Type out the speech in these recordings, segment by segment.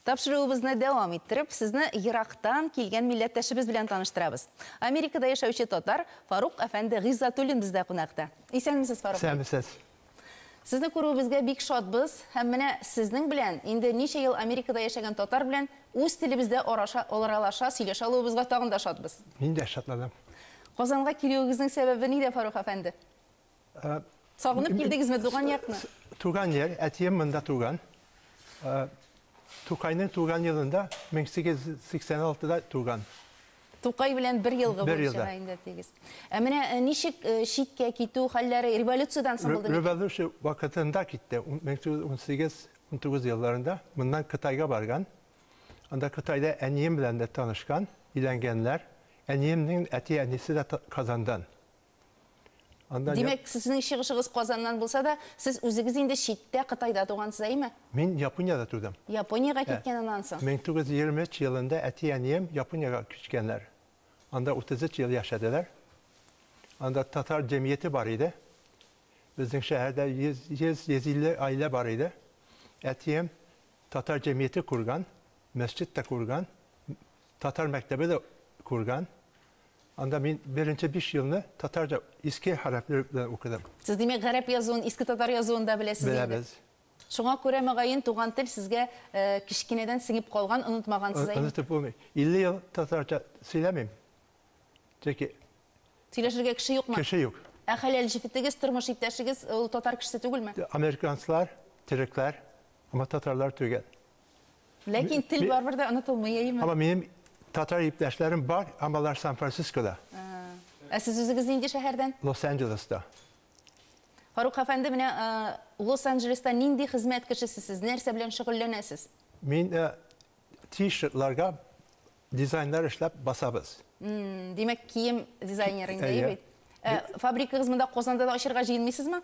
Тапшыруыбызны дәвам иттереп, сезне ерактан килгән милләттәшебез белән таныштырабыз. Америкада яшәүче татар Фарук әфәнде Гыйззатуллин бездә кунакта. Исәнмесез, Фарук. Исәнмесез. Сезне күрүебезгә бик шатбыз һәм менә сезнең белән инде ничә ел Америкада яшәгән татар белән үз телебездә араша, аралаша, сөйләшә алуыбызга тагын да шатбыз. Мин дә шатланам. Казанга килүегезнең сәбәбе нидә, Фарук әфәнде? Э, Сагынып килдегезме туган якны? Туган яр, әтием монда туган. Э, Тукайның туган елында 1886-да туган. Тукай белән бер елгы бер елда. инде тигез. Ә менә э, ничек э, читкә китү хәлләре революциядән соң булды? Революция вакытында китте. 1918-19 елларында моннан Кытайга барган. Анда Кытайда әнием белән дә танышкан, иләнгәннәр. Әниемнең әти-әнисе дә Казандан. Анда Димәк, сезнең чыгышыгыз Казаннан булса да, сез үзегез инде читтә Кытайда тугансыз, әйме? Мин Япониядә тудым. Япониягә киткән аннан соң. 1923 елында әти-әнием Япониягә күчкәннәр. Анда 33 ел яшәделәр. Анда татар җәмгыяте бар иде. Безнең шәһәрдә 100-150 гаилә бар иде. Әтием татар җәмгыяте курган, мәсҗид тә курган, татар мәктәбе дә күргән. Анда мин беренче биш елны татарча иске хәрефләр белән укыдым. Сез, димәк, гарәп язуын, иске татар язуын да беләсез инде. Беләбез. Шуңа күрә, мөгаен, туган тел сезгә кечкенәдән сеңеп калган, онытмагансыз әйме? Онытып булмый. 50 ел татарча сөйләмим. Чөнки Сөйләшергә кеше юкмы? Кеше юк. Ә хәләл җефетегез, тормыш иптәшегез ул татар кешесе түгелме? Американецлар, төрекләр, әмма татарлар түгел. Ләкин тел барыбер дә онытылмый, әйеме? Һаман минем татар иптәшләрем бар, һәм алар Сан-Францискода. Ә сез үзегез нинди шәһәрдән? Лос-Анджелеста. Фарук әфәнде, менә Лос-Анджелеста нинди хезмәт кешесе сез? Нәрсә белән шөгыльләнәсез? Мин T-shirt-ларга дизайннар эшләп басабыз. Димәк, кием дизайнеры инде, әйе бит? Фабрикагыз монда Казанда да ачырга җыенмыйсызмы?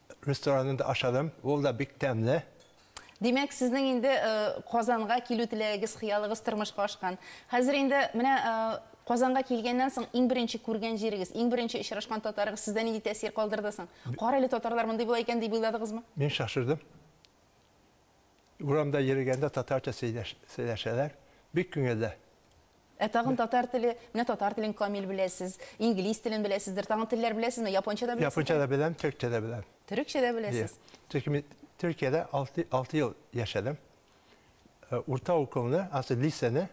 ресторанында ашадым. Ул да бик тәмле. Димәк, сезнең инде Казанга килү теләгегез, хыялыгыз тормышка ашкан. Хәзер инде менә Казанга килгәннән соң иң беренче күргән җирегез, иң беренче очрашкан татарыгыз сездә нинди тәэсир калдырды соң? Кара әле, татарлар мондый була икән, дип уйладыгызмы? Мин шашырдым. Урамда йөргәндә татарча сөйләшәләр. Бик күңелле. Ә тагын татар теле, менә татар телен камил беләсез, инглиз телен беләсездер, тагын телләр беләсезме? Японча да беләсезме? Японча да беләм, төркчә дә беләм. Төрекчә дә беләсез? Төрки мин Төркиядә 6, 6 ел яшәдем. Э, урта укуымны, асы лисәне,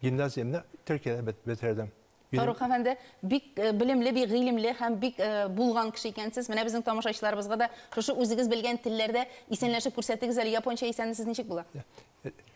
гимназиямне Төркиядә бет- бетердем. Минем- Фарух әфәнде, бик э, белемле, бик гыйлемле һәм бик э, булган кеше икәнсез. Менә безнең тамашачыларыбызга да шушы үзегез белгән телләрдә исәнләшеп күрсәтегез әле. Японча исәнлесез ничек була?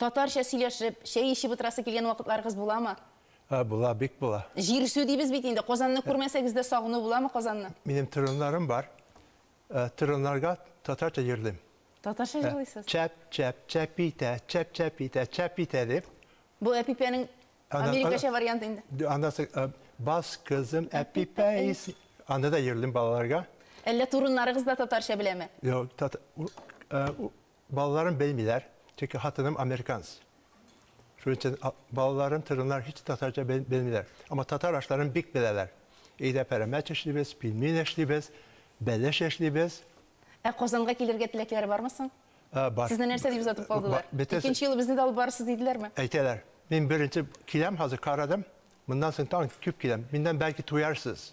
Татарча сөйләшеп, чәй эчеп утырасы килгән вакытларыгыз буламы? Ә, була, бик була. Җирсү дибез бит инде. Казанны күрмәсәгез дә сагыну буламы Казанны? Минем тырыннарым бар. Тырыннарга татарча җырлыйм. Татарча җырлыйсыз? Чәп, чәп, чәп итә, чәп, чәп итә, чәп итә дип. Бу Әпипәнең америкача варианты инде. Аннан соң, бас кызым Әпипә исе. Аны да җырлыйм балаларга. Әллә турыннарыгыз да татарча беләме? Юк, Балаларым белмиләр, чөнки хатыным американец. Шуның өчен балаларым, тырыннар һич татарча белмиләр. Әмма татар ашларын бик беләләр. Өйдә пәрәмәч эшлибез, пельмень эшлибез, бәлеш эшлибез. Ә Казанга килергә теләкләре бармы соң? Бар. Сезне нәрсә дип озатып калдылар? Икенче юлы безне дә алып барырсыз диделәрме? Әйтәләр. Мин беренче киләм, хәзер карадым, Моннан соң тагын күп киләм. Миннән бәлки туярсыз.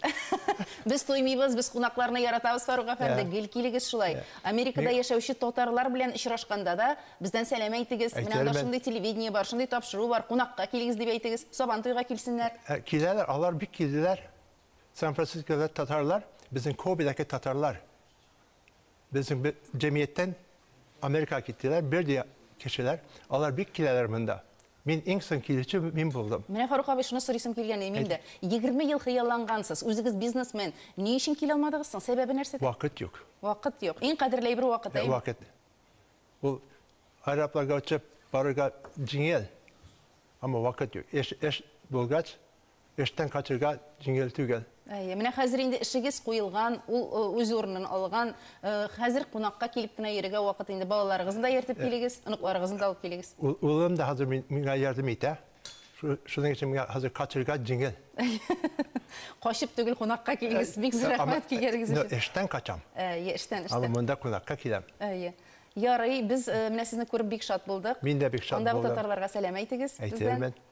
Без туймыйбыз, без кунакларны яратабыз, Фарук әфәнде, гел килегез шулай. Америкада яшәүче татарлар белән очрашканда да, бездән сәлам әйтегез, менә анда шундый телевидение бар, шундый тапшыру бар, кунакка килегез дип әйтегез, Сабан туйга килсеннәр. Киләләр, алар бик килделәр. Сан-Францискода татарлар, безнең Кобедәге татарлар. Безнең бер җәмгыятьтән Америкага киттеләр, бер дә кешеләр, алар бик киләләр монда. Мин иң соң килүче мин булдым. Менә, Фарук абый, шуны сорыйсым килгән иде мин дә. Егерме ел хыяллангансыз, үзегез бизнесмен, ни өчен килә алмадыгыз соң, сәбәбе нәрсәдә? Вакыт юк. Вакыт юк. Иң кадерле әйбер вакыт, әйеме? Вакыт. Ул аэропланга очып барырга җиңел, әмма вакыт юк. Эш, эш булгач, эштән качырга җиңел түгел. Әйе, менә хәзер инде эшегез куелган, ул үз урынын алган. Хәзер кунакка килеп кенә йөрергә вакыт инде. Балаларыгызны да ияртеп килегез, оныкларыгызны да алып килегез. Улым да хәзер миңа ярдәм итә. Шуның өчен миңа хәзер качырга җиңел. Качып түгел, кунакка килегез. Бик зур рәхмәт килгәнегез өчен. Әйе, эштән качам. Әйе, эштән, эштән. Аны монда кунакка киләм. Әйе. Ярый, без менә сезне күреп бик шат булдык. Мин дә бик шат булдым. Андагы татарларга сәлам әйтегез бездән. Әйтермен.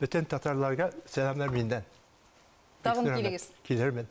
Бөтен татарларга сәламнәр миннән. Тагын килегез. Килермен.